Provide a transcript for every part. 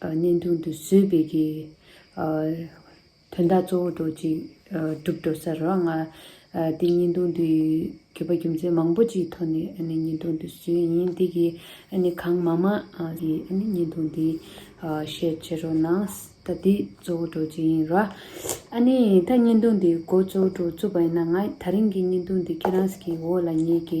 བརྙན་ཐུང་དུ་བཟོས་པའི་གི། དོན་དག་གཙོ་བོ་རྡོ་རྗེ། གྲུབ་འགྲོ་ཟེར་རོ། ང། དེ་བརྙན་ཐུང་དུ། གྱོད་པ་རྒྱུ་མཚན་མང་པོ་ཅིག་ཐོག་ནས་ཨ་ནི་བརྙན་ཐུང་དུ་བཟོས་ཡིན་དེ་གི། ཨ་ནི་གང་མ་མ། གི་ཨ་ནི་བརྙན་ཐུང་དེ། ཤེར་བྱེད་རོ་ན། ད་དེ་གཙོ་བོ་རྡོ་རྗེ་ཡིན་རོ། ཨ་ནི་ད་བརྙན་ཐུང་དེ་མགོ་གཙོ་བོ་རྡོ་རྗེ་བཙུགས་པ་ཡིན་ན་ང། ད་རིང་གི་བརྙན་ཐུང་དེ་ཁྱེད་རང་གི་འོག་ལ་ཉལ་གི།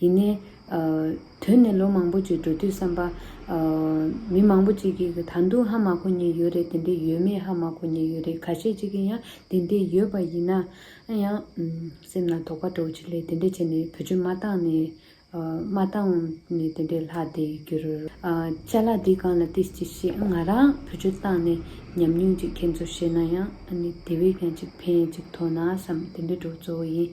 ཡིན་ནའི། དོན་ནི་ལོ་མང་པོ་ཅིག་འགྲོ་དུས་བསམ་པ། མི་མང་པོ་ཅིག་གིས་ད་དུང་ཧ་མ་གོ་ཉེན་ཡོད་རེད་དེ་འདྲས་ཡོད་མེད་ཧ་མ་གོ་ཉེན་ཡོད་རེད་ག་ཤེད་ཅིག་གིས་ཡང་དེ་འདྲས་ཡོད་པ་ཡིན་ན། ཡང། སེམས་ལ་དོགས་པ་འདྲོག་ཅིག་ལས་དེ་འདྲས་བྱས་ནས་བུ་ཆུ་མ་བཏང་ནས། མ་བཏང་ནས་དེ་འདྲས་ལྷག་བསྡད་རྒྱུར། བཅའ་ལག་འདི་གང་ལ་བལྟས་ཅི་ཤེས་ང་རང་བུ་ཆུ་བཏང་ནས་ཉམས་མྱོང་ཅིག་ཁྱེད་ཚོར་བཤད་ན་ཡང། དེ་བས་ཀྱང་ཅིག་ཕན་ཡང་ཅིག་ཐོག་ན་བསམ་དེ་འདྲས་འགྲོ་གཙོ་བོ་ཡིན།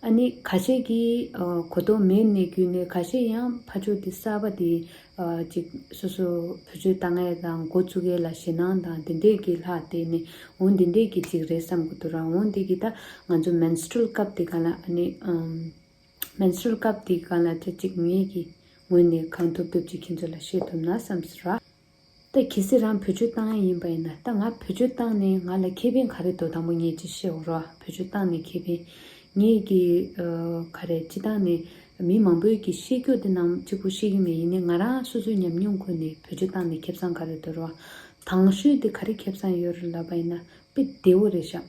ཨ་ནི་ཁ་ཤས་ཀྱིས་གོ་རྟོགས་མེད་ནས་བརྒྱུད་ནས་ཁ་ཤས་ཡང་ཕ་ཕྱོགས་དེ་གསར་པ་དེ་ཅིག་སོ་སོ་བུ་བཅོལ་ལྟ་ངན་དང་འགོ་བཙུགས་མཁན་ལ་ཞེད་སྣང་དང་དེ་འདྲས་ཀྱིས་ལྷག་བལྟས་ནས་འོན་དེ་འདྲས་ཀྱི་ཅིག་རེད་བསམ་གོ་ཐུག་རང་འོན་དེ་གི་ད་ང་ཚོ Menstrual སྐབས་དེ་ག་ལ་ཨ་ནི Menstrual སྐབས་དེ་ག་ལ་ཅི་ཅིག་ངེད་ཀྱིས་ངོས་ནས་གང་ཐུབ་ཐུབ་ཅིག་ཁྱེད་ཚོ་ལ་བཤད་ཐུབ་ན་བསམ་ཟེར་ར། ད་གལ་སྲིད་རང་བོད་ཆོས་བཏང་ཡ་ཡིན་པ་ཡིན་ན་ད་ང་བོད་ཆོས་བཏང་ནས་ང་ལ་ཁེ་ཕན་ག་རེ་འདོག་དང་པོ་ངས་ཅིག་བཤད་འོང་རོགས་བོད་ཆོས་བཏང་ནས་ཁེ་ཕན། ངས་ཀྱི། ག་རེ་སྤྱི་བཏང་ནས་མི་མང་པོས་ཀྱི་ཤེས་རྒྱུ་དེ་རྣམས་གཅིག་པུ་ཤེས་ཀྱི་མེད་ཡིན་ནས་ང་རང་སོ་སོའི་ཉམས་མྱོང་ཁུར་ནས་བོད་ཆོས་བཏང་ནས་ཁེབས་སང་ག་རེ་འདོད་རོགས། དྭངས་ཤོས་དེ་ག་རེ་ཁེབས་སང་ཡོད་རེད་ལབ་པ་ཡིན་ན་དཔེ་བདེ་བོ་རེ་བཞག།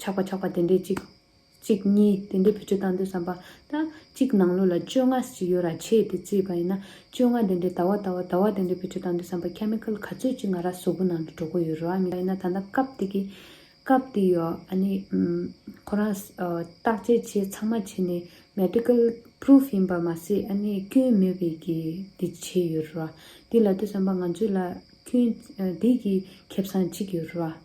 ཆགས་པ་ཆགས་པ་དེ་འདྲའི་གཅིག། གཅིག་གཉིས་དེ་འདྲའི་བུ་ཕྲུག་བཏང་འདོད་བསམ་པ། ད། གཅིག་ནང་ལོགས་ལ་བཅོ་ལྔ་ཅིག་ཡོད་ར་ཆེས་དེ་བརྩིས་པ་ཡིན་ན། བཅོ་ལྔ་དེ་འདྲའི་ད་བ་ད་བ་ད་བ་དེ་འདྲའི་བུ་ཕྲུག་བཏང་འདོད་བསམ་པ Chemical ག་ཚོད་ཅིག་ང་ར་བཟོ་པོ་ནང་དུ་འགྲོ་གོ་ཡོད་རོ་ཨ་མི་ཡིན་ན་ད་ལྟ་སྐབས་དེ་གི། སྐབས་དེ་ཡོ་ཨ་ནི། ཁོ་རང། བརྟག་དཔྱད་བྱས་ཚང་མ་བྱས་ནས Medical Proof ཡིན་པར་མ་ཟད་ཨ་ནི་སྐྱོན་མེད་པའི་གི་དེ་བྱས་ཡོད་རོ། དེ་ལ་འདོད་བསམ་པ་ང་ཚོས་ལ། སྐྱོན། དེ་གི་ཁེབས་སངས་ཅིག་ཡོད་རོ།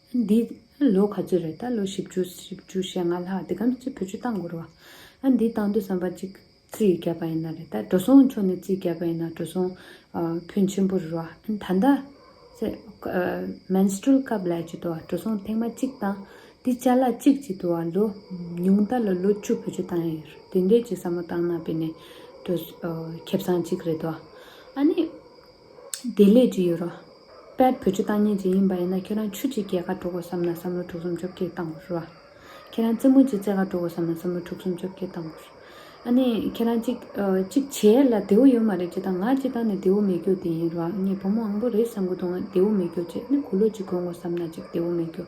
འདི་ལོ་ག་ཚོད་རེད་ད་ལོ་བཞི་བཅུ་བཞི་བཅུ་ཞེ་ལྔ་ལྷག་འདི་གམ་ཚོད་བོད་ཆུ་བཏང་དགོས་རེད་བ། ཨ་འདི་བཏང་དུས་བསམ་པ་གཅིག་རྩིས་བརྒྱབ་པ་ཡིན་ན་རེད་ད་འགྲོ་སོང་ཕྱོགས་ནས་རྩིས་བརྒྱབ་པ་ཡིན་ན་འགྲོ་སོང་ཕོན་ཆེན་པོ་རེད་བ། ད་ལྟ་ཚེ Menstrual སྐབས་ལས་ཀྱི་དུ་བ་འགྲོ་སོང་ཐེངས་མ་གཅིག་བཏང་འདི་བཅའ་ལག་གཅིག་གྱི་དུ་བ་ལོ་ཉུང་ད་ལོ་ལོ་བཅུ་བོད་ཆུ་བཏང་ཡོད་རེད་དེ་འདྲས་ཀྱི་བསམ་བློ་བཏང་ན་དཔེ་ནས་འགྲོ་ཁེབས་སང་གཅིག་རེད་བ། ཨ་ནི་བདེ་ལེགས་ཀྱི་ཡོད་རོགས། དཔལ་བོད་སྤྱི་བཏང་ཉིན་གཅིག་ཡིན་པ་ཡིན་ན་ཁྱེད་རང་ཆུ་གཅིག་གྱེས་ཁ་དྲུག་གོ་བསམ་ན་བསམ་བློ་དྲུག་སུམ་བཅོ་བརྒྱད་བཏང་གོ་རོགས། ཁྱེད་རང་རྩེད་མོ་གཅིག་རྩེ་ཁ་དྲུག་གོ་བསམ་ན་བསམ་བློ་དྲུག་སུམ་བཅོ་བརྒྱད་བཏང་གོ་རོགས། ཨ་ནི་ཁྱེད་རང་གཅིག་གཅིག་བྱས་ལ་བདེ་བོ་ཡོད་མ་རེད་ཅེས་དང་ང་སྤྱི་བཏང་ནས་བདེ་བོ་མེད་རྒྱུ་དེ་ཡིན་རོགས་ངས་བུ་མོ་ཨང་པོ་རེད་བསམ་གི་འདུག་ང་བདེ་བོ་མེད་རྒྱུ་བཅས་ནི་གུ་ལོ་གཅིག་གོན་གོ་བསམ་ན་གཅིག་བདེ་བོ་མེད་རྒྱུ།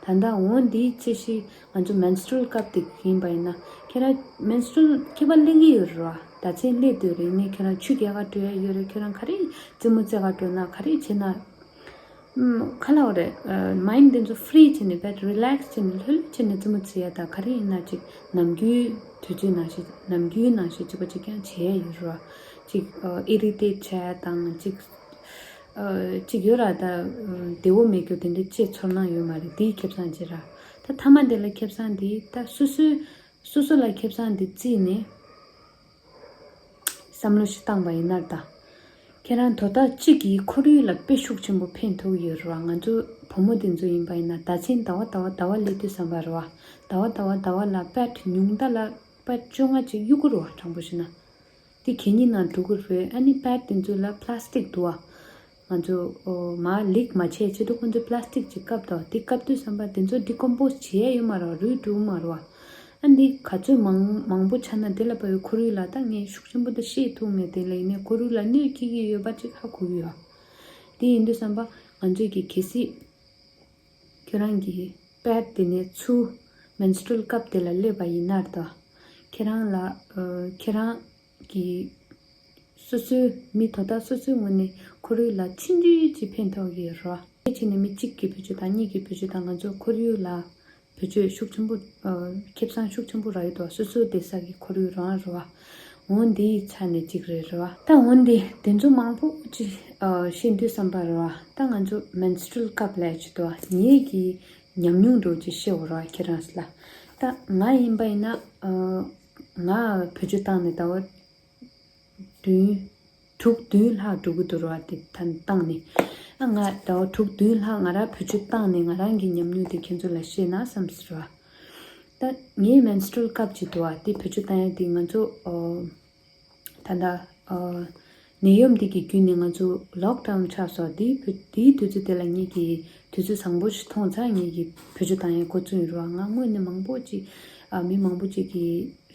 ད་ལྟ་འོན་འདིའི་ཚེ་ཤི། ང་ཚོ Menstrual སྐབས་དེ་ག་ཡིན་པ་ཡིན་ན། ཁྱེད་རང Menstrual ཁྱད་པར་གླེང་གི་ཡོད་རེད་བ། ད་ཚེ་སླེབས་དུས་རིང་ནས་ཁྱེད་རང་ཆུ་རྒྱལ་བ་བྲོས་ཡ་ཡོད་རེད་ཁྱེད་རང་ག་རེ་རྩེད་མོ་རྩེ་བ་བྲོས་ན་ག་རེ་བྱེད་ན། ཁ་ལག་རེད Mind དེ་ཚོ Free བྱེད་ནས་བེད Relax བྱེད་ནས་ལྷོད་ལྷོད་བྱེད་ནས་རྩེད་མོ་རྩེ་ཡ་ད་ག་རེ་ཡིན་ན་ཅིག་ནམ་རྒྱུན་དུས་ཚོད་ནང་བཞིན་ནམ་རྒྱུན་ནང་བཞིན་ཅིག་པ་ཅིག་ཀྱང་བྱེད་ཡ་ཡོད་རེད་བ། ཅིག Irritate བྱས་དང་ཅིག་ཅིག་ཡོད་ར་ད་བདེ་བོ་མེད་རྒྱུ་དེ་འདྲའི་བཅས་ཚོར་སྣང་ཡོད་མ་རེད་དེའི་ཁེབས་སངས་རྗེས་ར། ད་ཐ་མ་དེ་ལ་ཁེབས་སངས་འདི་ད་སོ་སོའི་སོ་སོ་ལ་ཁེབས་སངས་འདི་བརྩིས་ནས་བསམ་བློ་ཞིག་བཏང་བ་ཡིན་ནར་ད་ཁྱེད་རང་དོ་བདག་གཅིག་གིས་ཁོར་ཡུག་ལ་དཔེ་ཤུགས་ཆེན་པོ་འཕེན་ཐུབ་ཡོད་རེད་བ་ང་ཚོ་བུ་མོ་དེ་ཚོ་ཡིན་པ་ཡིན་ན་ད་ཆེན་ད་བ་ད་བ་ད་བ་ལས་དུས་བསམ་པ་རེད་བ་ད་བ་ད་བ་ད་བ་ལ་པད་ཉུང་ད་ལ་པད་བཅོ་ལྔ་ཅིག་གཡུག་དགོས་རེད་བ་དྲང་པོ་བྱས་ན་དེ་གད་སྙིགས་ནང་འགྲོ་གི་རེད་ཨ་ནི་པད་དེ་ཚོ་ལ plastic དུ་བ་ང་ཚོ་མ་ལེགས་མ་ཆད་ཕྱི་དྲོ་ཁོང་ཚོས Plastic གྱི་ཀབ་དང་དེ་ཀབ་དུས་བསམ་པ་དེ་ཚོ Decompose བྱེད་ཡ་ཡོད་མ་རོག་རུལ་འགྲོ་མ་རོག་ཨ་འདི་ག་ཚོད་མང་མང་པོ་ཆ་ན་དེ་ལ་བབས་ཡོད་ཁོར་ཡུག་ལ་ད་ངས་ཤུགས་ཆེན་པོ་དེ་ཤེས་ཐུབ་ངེས་དེ་ལ་ཡིན་ནའི་ཁོར་ཡུག་ལ་གནོད་སྐྱེལ་གྱི་ཡོད་པ་གཅིག་ཧ་གོ་གི་ཡོད་དེ་ཡིན་དུས་བསམ་པ་ང་ཚོས་ཀྱི་གལ་སྲིད་ཁྱོད་རང་གི Pad དེ་ནས་ཆུ Menstrual ཀབ་དེ་ལ་སླེབས་པ་ཡིན་ནར་ད་ཁྱེད་རང་ལ་ཁྱེད་རང། གི། སོ་སོའི་མི་དོ་བདག་སོ་སོའི་ངོ་ནས་ཁོར་ཡུག་ལ་ཕྱི་འབྲེལ་གྱི་ཕན་ཐོགས་ཀྱི་རོགས་སྐྱོར་བྱས་ནས་མི་གཅིག་གི་བུ་ཆོས་དང་གཉིས་ཀྱི་བུ་ཆོས་དང་ང་ཚོའི་ཁོར་ཡུག་ལ་བུ་ཆོས་ཤུགས་ཆེན་པོ། ཁེ་བཟང་ཤུགས་ཆེན་པོ་རག་ཡོད་དོ་སོ་སོའི་བདེ་གསར་གྱི་ཁོར་ཡུག་རང་རེད་བ། ངོ་འདི་ཡི་ཆ་ནས་གཅིག་རེད་བ། ད་ངོ་འདི་དེ་ཚོ་མང་པོ་ཅི་ཤེས་འདོད་བསམ་པ་རེད་བ། ད་ང་ཚོ Menstrual སྐབས་ལས་ཅི་དོ་ཉེས་ཀྱི་ཉམས་མྱོང་འགྲོ་ཅི་ཤེས་བ་རེད་བ་ཁྱེད་རང་ལ། ད་ང་ཡིན་པ་ཡིན་ན། ང་བོད་ཆུ་བཏང་ནས་ད་བར་བདུན། དྲུག་བདུན་ལྷག་འགྲོ་གི་འདུག་ར་བ་དེ་ད་བཏང་ནས། ཨ་ང་ད་བར་དྲུག་བདུན་ལྷག་ང་རང་བོད་ཆུ་བཏང་ནས་ང་རང་གི་ཉམས་མྱོང་དེ་ཁྱེད་ཚོ་ལ་བཤད་ན་བསམ་ཟེར་བ། ད་ངའི Menstrual སྐབས་ཀྱི་དུ་བ་དེ་བོད་ཆུ་བཏང་ཡ་དེ་ང་ཚོ། ད་ལྟ། ནད་ཡོམ་འདི་གི་བརྒྱུད་ནས་ང་ཚོ Lock Down ཆགས་སོགས་དེའི་དུས་ཚོད་དེ་ལ་ངེད་ཀྱིས་དུས་ཚོད་བཟང་པོ་ཞིག་མཐོང་ཚར་ངེད་ཀྱི་བོད་ཆུ་དྭངས་ཡང་གོ་མཚོན་ཡོད་རེད་བ་ང་དངོས་གནས་མང་པོ་ཅིག་མི་མང་པོ་ཅིག་གི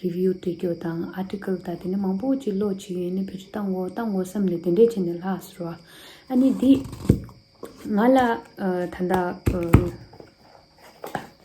Review འབྲི་རྒྱུ་དང Article དང་དེ་འདྲ་མང་པོ་ཅིག་ཀློག་བྱེད་ཡོད་ནས་བོད་ཆུ་བཏང་གོ་བཏང་གོ་བསམ་ནས་དེ་འདྲས་བྱས་ནས་ལྷགས་སོ། ཨ་ནི་འདི་ང་ལ་ད་ལྟ།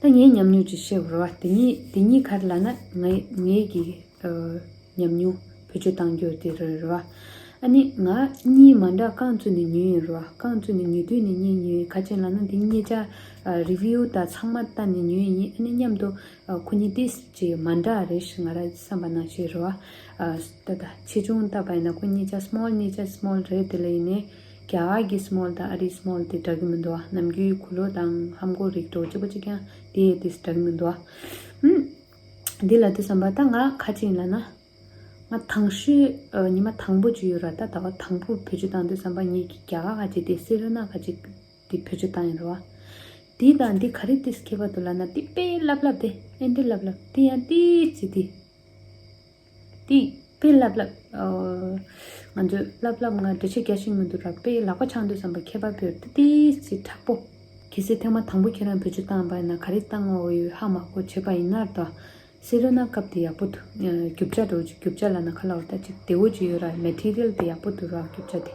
ད་ངའི་ཉམས་མྱོང་ཅིག་བཤད་རོགས་ཨ། དེ་གཉིས་ག་རེ་ལགས་ན། ངའི་གི་ཉམས་མྱོང་བེད་སྤྱོད་བཏང་རྒྱུ་དེ་རེད་རོགས་ཨ། ཨ་ནི་ང་གཉིས་མ་འདྲ་རྐང་བཙུགས་ནས་ཉོས་ཡིན་རོགས་ཨ། རྐང་བཙུགས་ནས་ཉོས་དུས་ནས་རྙེད་ཉོས་ཡིན་ཁ་ཅན་ལགས་ན་དེ་རྙེད་བྱ། Review དང་ཚང་མ་ལྟ་ནས་ཉོས་ཡིན་ཨ་ནི་མཉམ་དུ་ཁོ་གཉིས་ཏིས་ཅི་མ་འདྲ་རེད་ཞེས་ང་རང་བསམ་པ་ན་བཤད་རོགས་ཨ། ད་ཆེ་ཆུང་ལྟ་བ་ཡིན་ན་ཁོ་རྙེད་བྱ Small རྙེད་བྱ Small རེད་དེ་ལ་ཡིན་ནའི། རྒྱ་གར་གྱི Small དང Ari Small དེ་འདྲ་གི་མི་འདུག་ཨ། ནམ་རྒྱུན་ཡུལ་གུ་ལོ་དང་ཧམ་གོ་རིགས་གྲོགས་སྐྱིད་པོ་གཅིག་ཀྱང་དེ་ཡི་དེ་འདྲ་གི་མི་འདུག་ཨ། ཧུམ། འདི་ལ་དེ་བསམ་པ་ད་ང་ཁ་ཅིག་ལ་ན། ང་དང་ཤོས་ཉི་མ་དང་པོ་ཅིག་ཡོད་ར་ད་ད་བ་དང་པོར་བེད་སྤྱོད་བཏང་དུས་བསམ་པ་ངེད་ཀྱི་རྒྱ་གར་ཁ་ཅིག་དེ་སེ་རོ་ན་ཁ་ཅིག་དེ་བེད་སྤྱོད་བཏང་ཡོད་ར་བ། དེ་དང་དེ་ག་རེ་དེ་སྐྱེས་པ་དུ་ལ་ན་དེ་དཔེ་ལབ་ལབ་དེ་ཨེ་འདི་ལབ་ལབ་དེ་ཡང་དེ་ཅི་དེ། དེ་དཔེ་ལབ་ལབ། ང་ཚོས་ལབ་ལབ་ང་འདྲེ་ཆེ་རྒྱ་ཞིག་མི་འདུག་ར་དཔེ་ལག་པ་འཆང་འདོད་བསམ་པ་ཁྱད་པར་བོད་ཏི་ཏི་སི་དྲག་པོ། གལ་སྲིད་ཐེངས་མ་དང་པོ་ཁྱེད་རང་བོད་ཆུ་བཏང་པ་ཡིན་ན་ག་རེ་བཏང་བ་འོ་ཡོད་ཧ་མ་གོ་བྱེད་པ་ཡིན་ནར་དོ། སེ་རོ་ན་སྐབས་དེ་ཡག་པོ་འདུག་རྒྱུ་བྱ་འགྲོ་རྒྱུ་བྱ་ལ་ན་ཁ་ལ་འོ་ད་ཅིག་དེ་འོ་ཅིག་ཡོད་ར་མེ་ཐི་རིལ་དེ་ཡག་པོ་འདུག་ར་རྒྱུ་བྱ་དེ།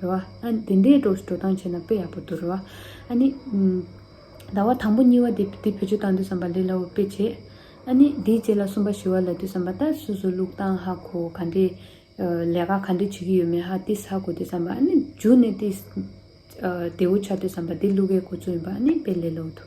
རེད་བ། ཨ་ནི་དེ་འདྲའི་སྒྲོག་བཞིན་འགྲོ་སྟངས་བྱས་ན་དཔེ་ཡག་པོ་འདུག་རེད་བ། ཨ་ནི། ཟླ་བ་དང་པོ་གཉིས་བ་དེ་དེ་བེད་སྤྱོད་བཏང་དུས་བསམ་པ་ལས་སླ་བོ་དཔེ་བྱས། ཨ་ནི་དེའི་རྗེས་ལ་གསུམ་པ་བཞི་བ་ལ་དུས་བསམ་པ་ལྟར་སུ་སུ་ལུག་བཏང་ཧ་གོ་ག་འདྲེ། ལས་ཀ་ག་འདྲེ་བྱེད་ཀྱི་ཡོད་མེད་ཧ་ཏིས་ཧ་གོ་དུས་བསམ་པ་ཨ་ནི་འཇུ་ནས་ཏིས། དེའུ་ཆ་དུས་བསམ་པ་དེ་ལུག་གའི་གོ་ཚུལ་ཡིན་པ་ཨ་ནི་དཔེ་ལས་སླ་བོ་འདུག།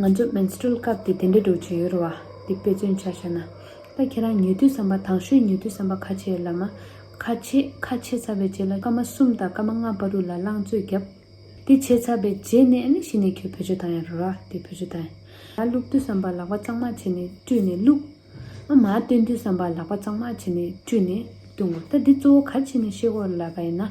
ང་ཚོ Menstrual སྐབས་དེ་དེ་འདྲའི་སྒྲོག་བྱེད་ཡོད་རེད་བ། འདི་དཔེ་མཚོན་ཆ་བྱས་ན། ད་ཁྱེད་རང་ཉལ་དུས་བསམ་པ་དང་ཤོས་ཉལ་དུས་བསམ་པ་ཁ་ཆེ་ཡོད་ལབ་མ། ཁ་ཆེ་ཁ་ཆེ་ཚ་བའི་རྗེས་ལ་སྐར་མ་གསུམ་དང་སྐར་མ་ལྔ་བར་རུ་ལ་རླངས་བཙོས་བརྒྱབ། དེ་བྱས་ཚར་པའི་རྗེས་ནས་ནི་ཕྱི་ནས་ཁྱོད་བུ་ཆུ་དང་ཡང་རུ་ར་དེ་བུ་ཆུ་དང་ཡང་བླུགས་དུས་བསམ་པ་ལག་པ་གཙང་མ་བྱས་ནས་བཀྲུས་ནས་བླུགས། ཨ་མ་སྟོན་དུས་བསམ་པ་ལག་པ་གཙང་མ་བྱས་ནས་བཀྲུས་ནས་བཏུང་ངོ་ད་འདི་གཙོ་བོ་ག་ཕྱི་ནས་ཤེས་སྒོར་ལབ་པ་ཡིན་ན།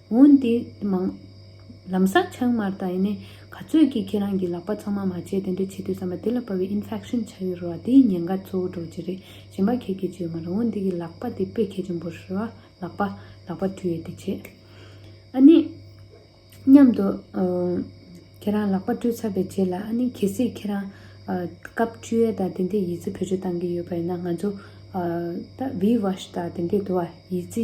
འོན་ཏེ། མང། ལམ་སང་ཆང་མར་ལྟ་ཡིན་ནའི། ག་ཚོད་ཀྱིས་ཁྱེད་རང་གིས་ལག་པ་ཚང་མ་མ་བྱས་དེ་འདྲ་བྱེད་དུས་བསམ་པ་དེ་ལ་བབས་པའི infection ཆགས་ཡོད་རེད་བ་དེའི་ཉེན་ཁ་གཙོ་བོ་གྲོགས་ཅི་རེད་གཞན་པ་ཁྱེད་ཀྱིས་བྱས་ཡོད་མ་རེད་འོན་ཏེ་ཀྱི་ལག་པ་དེ་དཔེ་གལ་ཆེན་པོ་རེད་བ། ལག་པ། ལག་པ་དུས་ཡོད་དེ་བྱེད། ཨ་ནི། མཉམ་དུ། ཁྱེད་རང་ལག་པ་བཀྲུས་ཚར་བའི་རྗེས་ལ་ཨ་ནི་གལ་སྲིད་ཁྱེད་རང། སྐབས་བཅུ་ཡས་དང་དེ་འདྲའི་ཡིད་རྩི་བེད་སྤྱོད་བཏང་གི་ཡོད་པ་ཡིན་ན་ང་ཚོ། ད་བྷིའི་བྷ་ཤ་དང་དེ་འདྲས་དུ་བ་ཡིད་རྩི་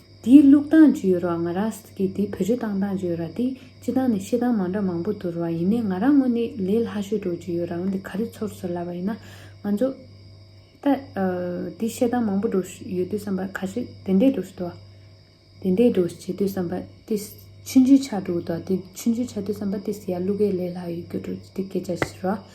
དེའི་ལུགས་དང་རྒྱུ་ཡོད་རོགས་ང་ར་སྟ་གི་དེའི་བོད་རྒྱུ་དང་དང་རྒྱུ་ཡོད་ར་དེ་སྤྱི་དང་ནི་ཤེས་དང་མང་འདྲ་མང་པོ་དུ་རོགས་ཡིན་ནས་ང་ར་ངོ་ནི་ལས་ལྷ་ཤོད་འགྲོ་རྒྱུ་ཡོད་ར་འོན་ཏེ་ག་རི་ཚོར་ཚོར་ལབ་པ་ཡིན་ན་ང་ཚོ། ད། དེ་ཤེས་དང་མང་པོ་འགྲོ་ཤོད་ཡོད་དུས་བསམ་པ་ག་ཤེད་དེ་འད་འགྲོ་ཤོད་དོ། དེ་འད་འགྲོ་ཤེད་དུས་བསམ་པ་དེ་ཕྱི་འཇུས་ཆགས་འགྲོ་དུ་དེ་ཕྱི་འཇུས་ཆགས་དུས་བསམ་པ་དེ་སི་ཡ་ཀླུ་སྒའི་ལས་ལྷ་ཡོད་རྒྱུ་འགྲོ་རྒྱུ་དེ་སྐད་ཆ་ཤི་རོགས།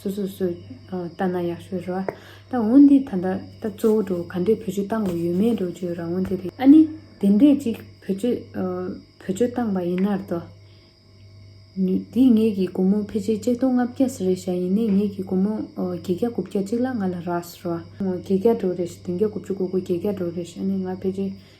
སོ་སོ་སོས་ལྟ་ན་ཡག་ཤོས་རེད་བ། ད་འོན་ཏེ་ད་ལྟ་ད་གཙོ་བོ་འགྲོ་ག་འདྲས་བོད་ཆོས་བཏང་དགོས་ཡོད་མེད་འགྲོ་བཅོས་རང་དབང་དེ་རེད། ཨ་ནི་དེ་འདྲས་ཅིག་བོད་ཆོས་བོད་ཆོས་བཏང་བ་ཡིན་ནར་དོ། དེ་ངེད་ཀྱི་སྒོར་མོ་ཕལ་ཆེར་གཅིག་སྟོང་ལྔ་བརྒྱ་ཟེར་རེད་བཞག་ཡིན་ནའི་ངེད་ཀྱི་སྒོར་མོ་བརྒྱད་བརྒྱ་དགུ་བརྒྱ་གཅིག་ལ་ང་ལ་རགས་ཟེར་བ། བརྒྱད་བརྒྱ་འགྲོ་རེད་བདུན་བརྒྱ་དགུ་བཅུ་དགུ་དགུ་བརྒྱད་བརྒྱ་འགྲོ་རེད་ཨ་ནི་ང་ཕལ་ཆེར་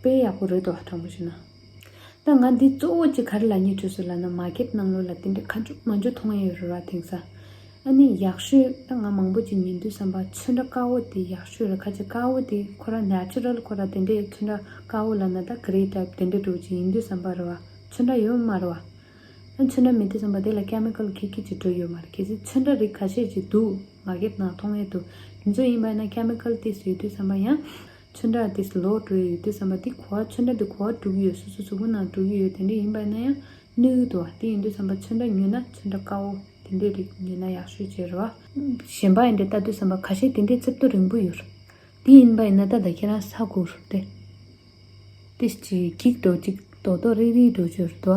དཔེ་ཡག་པོ་རེད་དོ་དྲང་པོ་བྱོས་ན། ད་ང་འདི་གཙོ་བོ་གཅིག་ག་རེ་ལ་ཉེ་བྱོས་སུ་ལ་ན་མ་ཁེབ་གནང་ལོ་ལ་དེ་འདྲའི་ཁ་མཆུ་མ་འཇོ་མཐོང་ཡས་རོལ་བ་དེང་ས། ཨ་ནི་ཡག་ཤོས་ད་ང་མང་པོ་གཅིག་ཉན་དུས་བསམ་པ་ཆོས་འདྲ་དཀར་བོ་དེ་ཡག་ཤོས་རེད་ཁ་ཅིག་དཀར་བོ་དེ་ཁོ་ར་ནེ་ཨ་ཅི་རལ་ཁོ་ར་དེ་འདྲའི་ཆོས་འདྲ་དཀར་བོ་ལ་ན་ད་ག་རེའི་དྲ་དེ་འདྲའི་དྲུག་གཅིག་ཡིན་དུས་བསམ་པ་རེ་བ་ཆོས་འདྲ་ཡོད་མ་རེ་བ། ཨ་ཆོས་འདྲ་མེད་དུས་བསམ་པ་དེ་ལ་ཀ་མེ་ཀ་ལོ་ཁིག་ཁིག་ཅིག་བྲོས་ཡོད་མ་རེད་གལ་སྲིད་ཆོས་འདྲ་རིགས་ག་ཤེད་ཅིག་འདུག་མ་ཁེབ་གནང་མཐོང་ཡས་འདུག་དེ་ཚོ་ཡིན་པ་ན་ཀ་མེ་ཀ་ལོ་དེ་ཡོད་དུས་བསམ་པ་ཡང། ཆུ་འདྲ་དེ་ལོགས་འགྲོ་ཡི་ཡོད་དུས་བསམ་པ་དེ་གོ་བ་ཆུ་འདྲ་དེ་གོ་བ་དྲུག་ཡོད་སོ་སོ་གཟུགས་པོ་ནང་དྲུག་ཡོད་དེ་འདྲ་ཡིན་པ་ན་ཡང་ནུས་ཡོད་དོ་དེ་ཡིན་དུས་བསམ་པ་ཆུ་འདྲ་ཉོས་ན་ཆུ་འདྲ་དཀའ་འོ་དེ་འདྲའི་རིགས་ཉོས་ན་ཡག་ཤོས་ཅེས་རོ། གཞན་པ་ཡིན་དེ་ལྟ་དུས་བསམ་པ་ཁ་ཤས་དེ་འདྲའི་རྩིབ་ཏོ་རིང་པོ་ཡོད་རོ། དེ་ཡིན་པ་ཡིན་ན་ད་ད་ཁྱེད་རང་ས་གོ་རོ། དེ་ཅིག་གིག་འགྲོ་གཅིག་རྡོག་རྡོག་རིག་རིག་འགྲོ་ཅོས་རེད་དོ།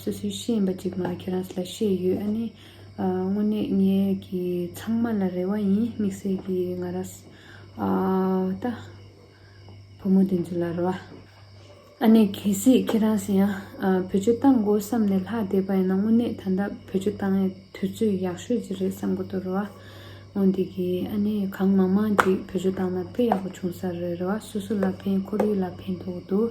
སོ་སོའི་ཤེས་ཡིན་པ་གཅིག་མ་ཁྱེད་རང་ས་ལ་ཤེས་ཡོད་ཨ་ནི། དངོས་གནས་ངའི་གི་ཚང་མ་ལ་རེ་བ་ཡིན་དམིགས་བསལ་གི་ང་ར་ས་ད། བུ་མོ་དེ་ཚོ་ལ་རེ་བ། ཨ་ནི་གལ་སྲིད་ཁྱེད་རང་ས་ཡ་བོད་ཆོས་གཏང་དགོས་བསམ་ནས་ལྷག་བསྡད་པ་ཡིན་ན་དངོས་གནས་ད་ལྟ་བོད་ཆོས་གཏང་ཡས་དུས་ཚོད་ཡག་ཤོས་ཅིག་རེད་བསམ་གོ་ཐོ་རེ་བ། མོ་འདི་གི་ཨ་ནི་གང་མང་མང་ཅིག་བོད་ཆོས་གཏང་ན་དཔེ་ཡག་པོ་བྱུང་ས་རེ་རེ་བ་སོ་སོ་ལ་ཕན་ཁོར་ཡུག་ལ་ཕན་ཐོག་དུ།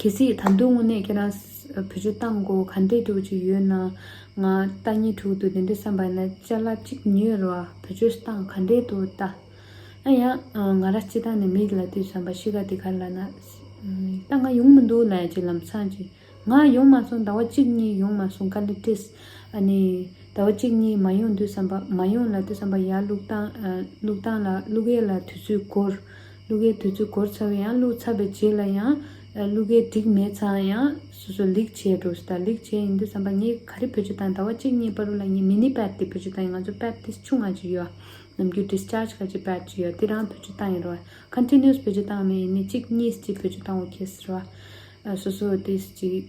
གལ་སྲིད་ད་དུང་དངོས་གནས་ཁྱེད་རང་བོད་ཆོས་གཏང་དགོ་ག་འདྲས་འགྲོ་གི་ཡོད་ན། ང་རྟ་གཉིས་དྲུག་འདུག་དེ་འདྲས་བསམ་པ་ཡིན་ན་བཅའ་ལ་གཅིག་ཉོས་རོགས་ཨ་བོད་ཆོས་གཏང་ག་འདྲས་འདུག་ལྟ། ཨ་ཡང་ང་ར་སྤྱི་བཏང་ནས་མིག་ལ་ལྟོས་བསམ་པ་ཤི་ག་དེ་ག་ལ་ན། རྟ་ང་ཡོང་མི་འདུག་ལ་ཡ་ཅི་ལམ་སང་ཅི་ང་ཡོང་མ་སོང་ཟླ་བ་གཅིག་གཉིས་ཡོང་མ་སོང་ག་ལེ་ཏིས། ཨ་ནི་ཟླ་བ་གཅིག་གཉིས་མ་ཡོང་འདུག་བསམ་པ་མ་ཡོང་ལ་ལྟོས་བསམ་པ་ཡར་བླུགས་བཏང་བླུགས་བཏང་ལ་བླུགས་ཡས་ལ་དུས་ཚོད་འགོར། གླུ་གའི་དུས་ཚོད་འགོར་ཚར་བས་ཡང་གླུ་ཚར་བའི་རྗེས་ལ་ཡང། གླུ་གའི་འགྲིག་མེད་ཚང་ཡང་སོ་སོ་ལེགས་བྱས་འགྲོ་ཟེར་ད་ལེགས་བྱས་ཡིན་དུས་བསམ་པ་ངས་ག་རེ་བོད་ཆུ་དང་ཟླ་བ་གཅིག་གཉིས་པར་རུ་ལ་ངའི་མི་ནི་པད་ཏི་བོད་ཆུ་དང་ཡིན་ང་ཚོ་པད་ཏི་ཆུང་ང་ཅི་ཡོད། ནམ་རྒྱུན Discharge ག་ཅི་པད་ཅི་ཡོད་དེ་རང་བོད་ཆུ་དང་ཡིན་རོ། Continuous བོད་ཆུ་དང་མེད་ཡིན་ནི་གཅིག་གཉིས་སུ་ཅི་བོད་ཆུ་དང་འོ་ཁེ་ཟེར་རོ། སོ་སོ་དེ་སུ་ཅི།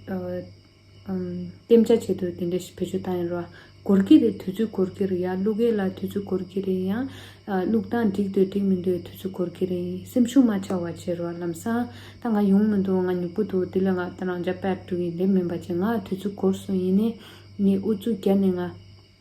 གཏན་འཇགས་བྱེད་དུ་དེ་འདྲ་ཞིག་བེད་སྤྱོད་བཏང་ཡོད་རེད། གོར་གི་རེད་དུས་ཚོད་གོར་གི་རེད་ཡ་གླུ་གའི་ལ་དུས་ཚོད་གོར་གི་རེད་ཡང་གླུ་གདངས་འགྲིག་འདོད་འགྲིག་མི་འདོད་དུས་ཚོད་གོར་གི་རེད་སེམས་ཤུགས་མ་ཆག་བ་བྱེད་རོགས་ལམ་སང་ད་ང་ཡོང་མི་འདུག་ང་ཉུག་པོ་འདུག་དེ་ལ་ང་ད་རང་ཅག་པད་གྲུ་ཡི་ལས་མིན་པ་བྱེད་ང་དུས་ཚོད་གོར་སོང་ཡིན་ནས་ངས་ཨུ་ཚུགས་བརྒྱབ་ནས་ང།